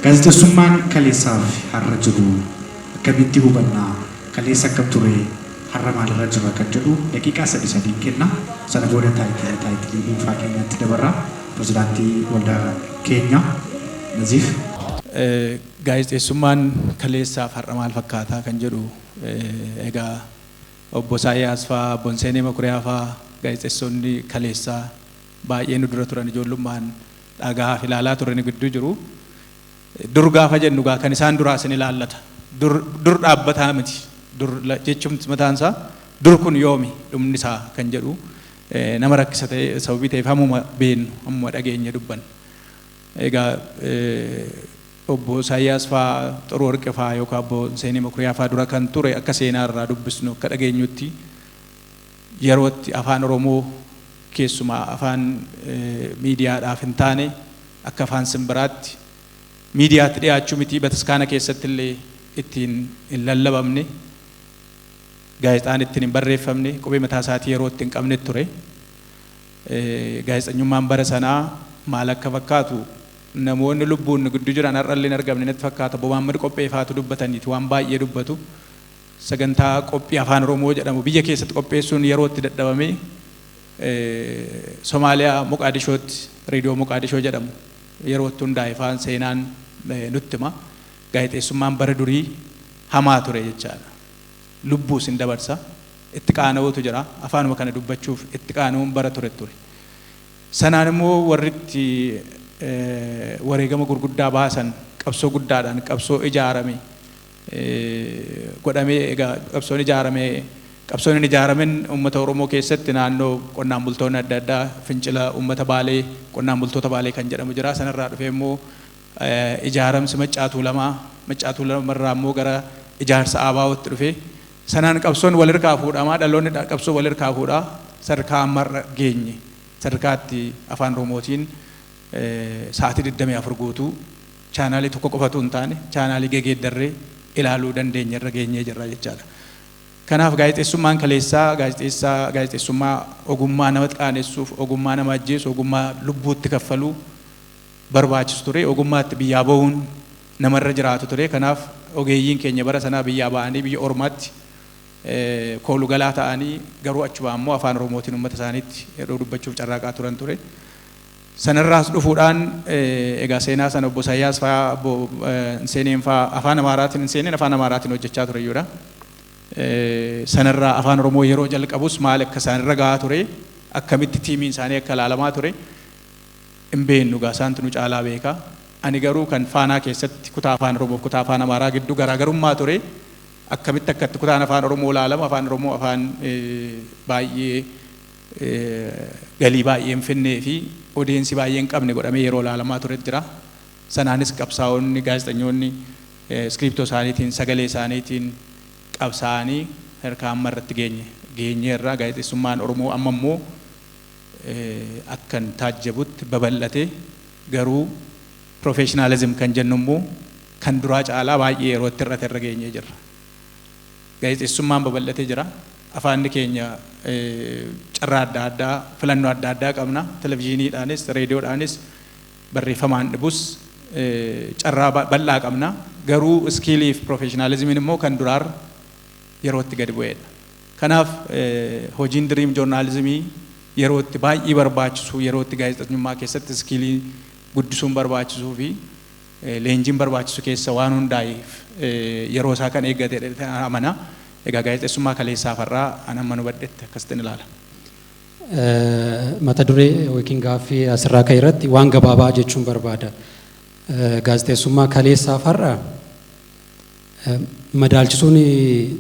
Gaazexessummaan kaleessaaf har'a jiru akkamitti hubanna, kaleessa akkam ture, har'a maalirra jirra kan jedhu daqiiqaa sadi sadiin kenna. Sana booda taayitila taayitilii dhuunfaa keenyatti dabarra. Pirezidaantii waldaa keenya Naziif. Gaazexeessummaan kaleessaaf har'a maal fakkaataa kan jedhu egaa obbo Isaayyaas faa, obbo Hinseenee Makuriyaa faa gaazexeessonni kaleessaa baay'ee nu dura turan ijoollummaan dhagahaaf ilaalaa turre ni gidduu jiru. Dur gaafa jennu gaa kan isaan duraa isin ilaallata. Dur, dur dhaabbataa miti. Dur la- jechuun mataan isaa dur kun yoomi dhumni isaa kan jedhu eh, nama rakkisa ta'e sababii ta'eef hammuma beennu hammuma dhageenye dubbanna. Egaa eh, obbo Isaayyaas faa Xuru Warqe faa yookaan obbo Seenee Makuriyaa faa dura kan ture akka seenaa irraa dubbisnu akka dhageenyutti Yeroo itti Afaan Oromoo keessumaa afaan miidiyaadhaaf hin taane akka afaan simbiraatti miidiyaatti dhiyaachuu mitii bataskaana keessatti illee ittiin hin lallabamne, gaazexaan ittiin hin barreeffamne, qubee mataa isaatii yeroo itti hin qabnet ture. Gaazexanyummaan bara sanaa maal akka fakkaatu namoonni lubbuun nu gidduu jiran har'a illee hin argamne natti fakkaata. Obbo Mahammad Qophee faatu dubbataniiti waan baay'ee dubbatu. Sagantaa qophii Afaan Oromoo jedhamu biyya keessatti qopheessuun yeroo itti dadhabamee Somaaliyaa Moqaadishootti Reediyoo Moqaadishoo jedhamu yeroo itti hundaa'e faan seenaan nutti hima. Gaazexeessummaan bara durii hamaa ture jechaadha. Lubbuu sin dabarsa. Itti qaana'uutu jira. Afaanuma kana dubbachuuf itti qaana'uun bara ture ture. Sanaan immoo warri itti wareegama gurguddaa baasan qabsoo guddaadhaan qabsoo ijaarame godhamee egaa qabsoon ijaarame qabsoon hin ijaaramin uummata Oromoo keessatti naannoo qonnaan bultoonni adda addaa fincila uummata Baalee qonnaan bultoota Baalee kan jedhamu jira sanarraa dhufee immoo ijaaramsi Maccaa Tuulamaa Maccaa Tuulamarraa immoo gara ijaarsa Aabaawootti dhufe sanaan qabsoon walirkaa fuudhamaa dhaloonni qabsoo walirkaa fuudhaa sadarkaa ammarra geenye sadarkaatti afaan Oromootiin sa'aatii 24 guutuu Chaanaalii tokko qofa utuu hin taane chaanaalii gegeeddarree ilaaluu dandeenye irra geenyee jirra jechaadha. Kanaaf gaazexeessummaan kaleessaa gaazexeessaa gaazexeessummaa ogummaa nama qaanessuuf, ogummaa nama ajjeesu, ogummaa lubbuu itti kaffaluu barbaachisu ture. Ogummaa itti biyyaa bahuun namarra jiraatu ture. Kanaaf ogeeyyiin keenya bara sanaa biyyaa ba'anii biyya ormaatti koolu galaa ta'anii garuu achumaa immoo afaan Oromootiin uummata isaaniitti yeroo dubbachuuf carraaqaa turan ture. Sanarraas dhufuudhaan egaa seenaa sana obbo Isaayyaas faa obbo hin seeneen faa afaan Amaaraatiin hin seeneen afaan Amaaraatiin hojjechaa ture iyyuu dha. Sanarraa afaan Oromoo yeroo jalqabus maal akka isaan irra gahaa ture akkamitti tiimiin isaanii akka ilaalamaa ture hin beeknu egaa isaantu nu caalaa beeka. Ani garuu kan Faanaa keessatti kutaa afaan Oromoo fi kutaa afaan Amaaraa gidduu garaagarummaa ture akkamitti akka itti kutaan afaan Oromoo ilaalamu afaan Oromoo afaan baay'ee galii baay'ee hin finnee fi odeensi baay'ee hin qabne godhamee yeroo ilaalamaa turet jira. Sanaanis qabsaa'onni, gaazexanyoonni iskiriiptoo isaaniitiin, sagalee isaaniitiin qabsaa'anii sadarkaa amma irratti geenye geenyeerra. Gaazexeessummaan Oromoo amma immoo akkan taajjabutti babal'ate garuu professionalism kan jennu immoo kan duraa caalaa baay'ee yeroo itti hir'ate irra geenyee jirra. Gaazexeessummaan babal'atee jira. Afaanni keenya carraa adda addaa, filannoo adda addaa qabna. Televizhiiniidhaanis, reediyoodhaanis, barreeffamaan dhibus carraa bal'aa qabna. Garuu iskiilii fi piroofeeshinaalizimiin immoo kan duraarra yerootti gadi bu'eedha. Kanaaf hojiin diriim joornaalizimii yerootti baay'ee barbaachisuu, yerootti gaazexeesnyummaa keessatti iskiilii guddisuun barbaachisuu fi leenjiin barbaachisu keessa waan hundaa'eef yeroo isaa kan eeggate jedheen amana. Egaa gaazexessummaa kaleessaaf har'aa an hamman hubadhetti akkasittin ilaala. Mata duree yookiin gaaffii asirraa ka'e irratti waan gabaabaa jechuun barbaada. Gaazexessummaa kaleessaaf har'a madaalchisuun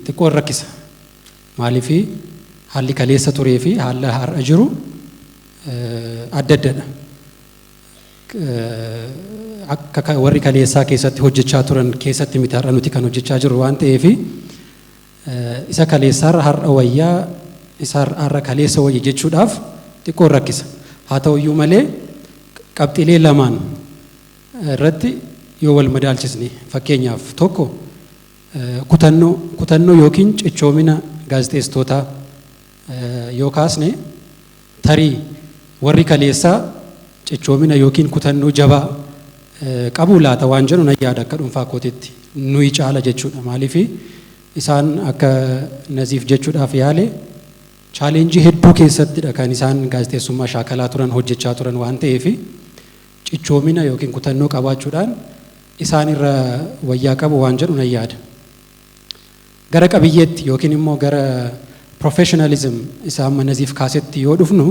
xiqqoo hin rakkisa. Maaliif haalli kaleessa turee fi haalli har'a jiru adda addadha. akka ka- warri kaleessaa keessatti hojjechaa turan keessatti miti har'a nuti kan hojjechaa jirru waan ta'eef isa kaleessaarra har'a wayyaa isa har'aarra kaleessa wayya jechuudhaaf xiqqoon rakkisa haa ta'u iyyuu malee qabxiilee lamaan irratti yoo wal madaalchisne fakkeenyaaf tokko eh, kutannoo kutannoo yookiin cichoomina gaazexeessitootaa yoo kaasne tarii warri kaleessaa cichoomina yookiin kutannoo jabaa qabuu laata waan jedhu nan yaada akka dhuunfaa kootitti nuyi caala jechuudha maaliif isaan akka naziif jechuudhaaf yaale chaaleenjii hedduu keessattidha kan isaan gaazexeessummaa shaakalaa turan hojjechaa turan waan ta'eef cichoomina yookiin kutannoo qabaachuudhaan isaan irra wayyaa qabu waan jedhu nan yaada. Gara qabiyyeetti yookiin immoo gara professionalism isa amma Naziif kaasetti yoo dhufnu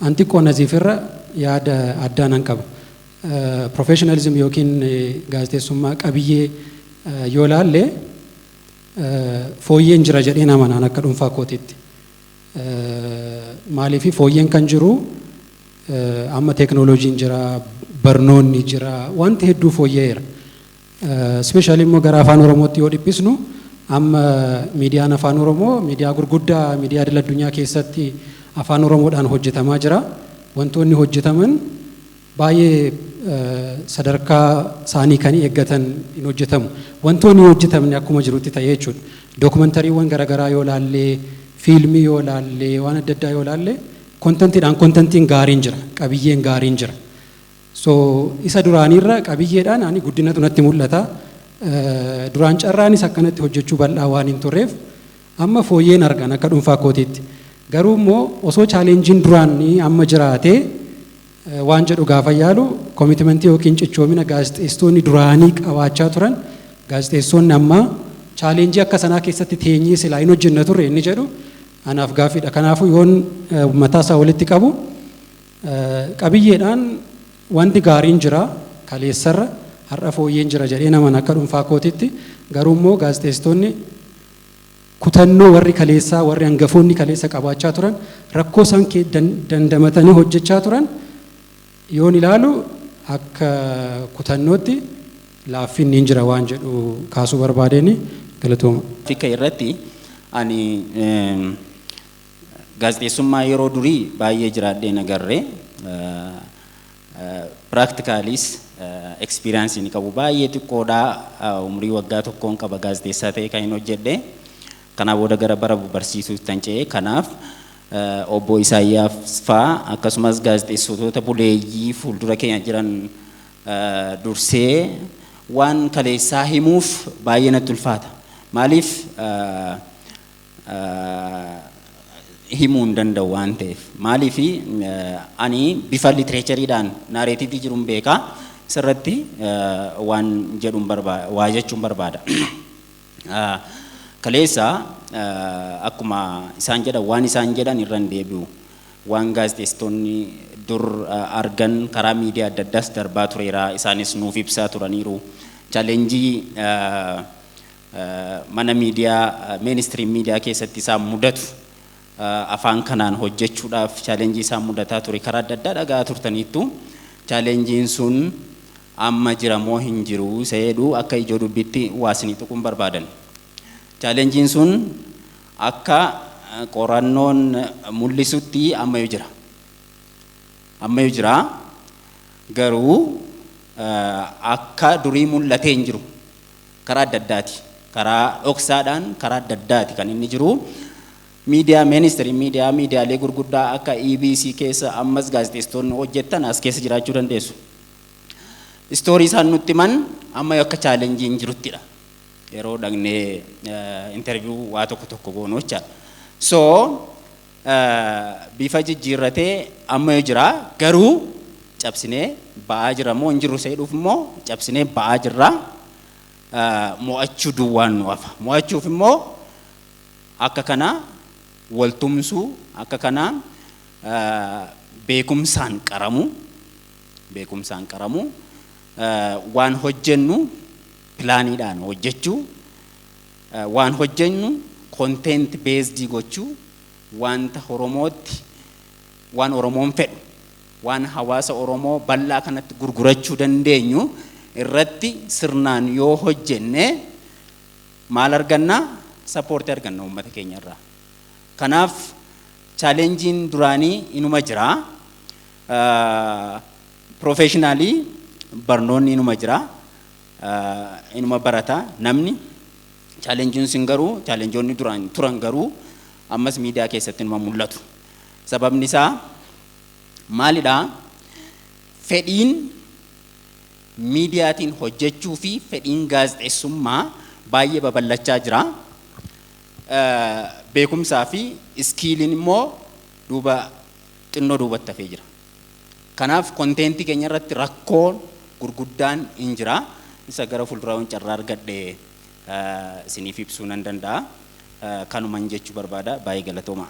an xiqqoo Naziif irra yaada addaa nan qaba. Professionalism yookiin gaazexeessummaa qabiyyee yoo laalle fooyyeen jira jedheen amana an akka dhuunfaa kootiitti. Maaliif fooyyeen kan jiru amma teeknooloojiin jira, barnoonni jira, wanti hedduu fooyya'eera. Specially immoo gara afaan Oromootti yoo dhiphisnu amma miidiyaan afaan Oromoo miidiyaa gurguddaa miidiyaa idil addunyaa keessatti afaan Oromoodhaan hojjetamaa jira. Wantoonni hojjetaman baay'ee sadarkaa isaanii kan eeggatan hin hojjetamu. Wantoonni hin hojjetamne akkuma jirutti ta'ee jechuudha. Dookumantariiwwan garaagaraa yoo laallee fiilmii yoo laallee waan adda addaa yoo laallee kontentiidhaan kontentiin gaariin jira qabiyyeen gaariin jira. So isa duraaniirra qabiyyeedhaan ani guddinatu natti mul'ata. Duraan carraanis akkanatti hojjechuu bal'aa waan hin turreef amma fooyyeen argan akka dhuunfaa kootiitti. Garuu immoo osoo chaalenjiin duraan amma jiraatee waan jedhu gaafa yaalu koomitimentii yookiin cichoomina gaazexeessitoonni duraanii qabaachaa turan gaazexeessitoonni ammaa chaalenjii akka sanaa keessatti teenyee silaa hin hojjenna turre inni jedhu anaaf gaaffiidha. Kanaafuu yoon mataa isaa walitti qabu Qabiyyeedhaan wanti gaariin jira kaleessarra har'a fooyyeen jira jedheen amana akka dhuunfaa kootitti garuu immoo gaazexeessitoonni kutannoo warri kaleessaa warri hangafoonni kaleessa qabaachaa turan rakkoo isaan dandamatanii hojjechaa turan yoon ilaalu akka kutannootti laaffinni hin jira waan jedhu kaasuu barbaadeen galatooma. Tikka irratti ani Gaazexeessummaa yeroo durii baay'ee jiraadhee hin agarre. Piraaktikaalis ekspiriyaansi inni qabu baay'ee xiqqoodha. Umrii waggaa tokkoon qaba gaazexeessaa ta'ee kan hin hojjedhe. Kanaa booda gara bara barsiisuutti kan ce'e. Kanaaf obbo Isaayyaaf faa akkasumas gaazexeessitoota buleeyyii fuuldura keenya jiran dursee waan kaleessaa himuuf baay'ee natti ulfaata. Maaliif himuu hin danda'u waan ta'eef. Maaliif ani bifa litireechariidhaan naareetiivii jiruun beeka sirratti waan jedhuun barbaada waa jechuun barbaada. Kaleessa akkuma isaan jedhan waan isaan jedhan irra hin deebi'u. Waan gaazexeessitoonni dur argan karaa miidiyaa adda addaas darbaa tureera isaanis nuuf ibsaa turaniiru. Chaalenjii Mana miidiyaa, mainstream media, keessatti isaan mudatu afaan kanaan hojjechuudhaaf challenge isaan mudataa ture karaa adda addaa dhaga'aa turtaniittu. Challenge'n sun amma jira moo hin jiru isa jedhu akka ijoo dubbiitti waa isinii tuquun barbaadan. Challenge'n sun akka qorannoon mul'isutti ammayyuu jira. Ammayyuu jira garuu akka durii mul'atee hin jiru. Karaa adda addaati. Karaa dhoksaadhaan karaa adda addaati kan inni jiru. Miidiyaa ministry miidiyaa miidiyaalee gurguddaa akka EBC keessa ammas gaazexeessitoonni hojjettan as keessa jiraachuu dandeessu. Istoorii isaan nutti himan amma akka chaalenjiin jiruttidha. Yeroo dhaqnee interview waa tokko tokko goonu jechaadha. So bifa jijjiirratee ammayu jira garuu cabsinee ba'aa jira moo hin jirru seedhuuf immoo cabsinee ba'aa jirra mo'achuu duwwaan nu hafa mo'achuuf immoo akka kana wal tumsuu akka kana beekumsaan qaramu beekumsaan qaramu waan hojjennu pilaaniidhaan hojjechuu Waan hojjennu content based gochuu, wanta Oromootti, waan Oromoon fedhu, waan hawaasa Oromoo bal'aa kanatti gurgurachuu dandeenyu irratti sirnaan yoo hojjenne maal arganna? Support arganna uummata keenya irraa. Kanaaf challenge'n duraanii inuma jira. Professionally barnoonni inuma jira. inuma barata namni challengin sin garuu challengeonni duraan turan garuu ammas miidiyaa keessatti inuma mul'atu sababni isaa maalidha fedhiin miidiyaatiin hojjechuu fi fedhiin gaazexeessummaa baay'ee babal'achaa jira beekumsaa fi iskiiliin immoo duuba xinnoo duubatti hafee jira Kanaaf content keenya irratti rakkoo gurguddaan hin jira. Isa gara fuulduraa yoon carraa argadhe isiniif ibsuu nan danda'a. Kanuman jechuu barbaada. Baay'ee galatoomaa.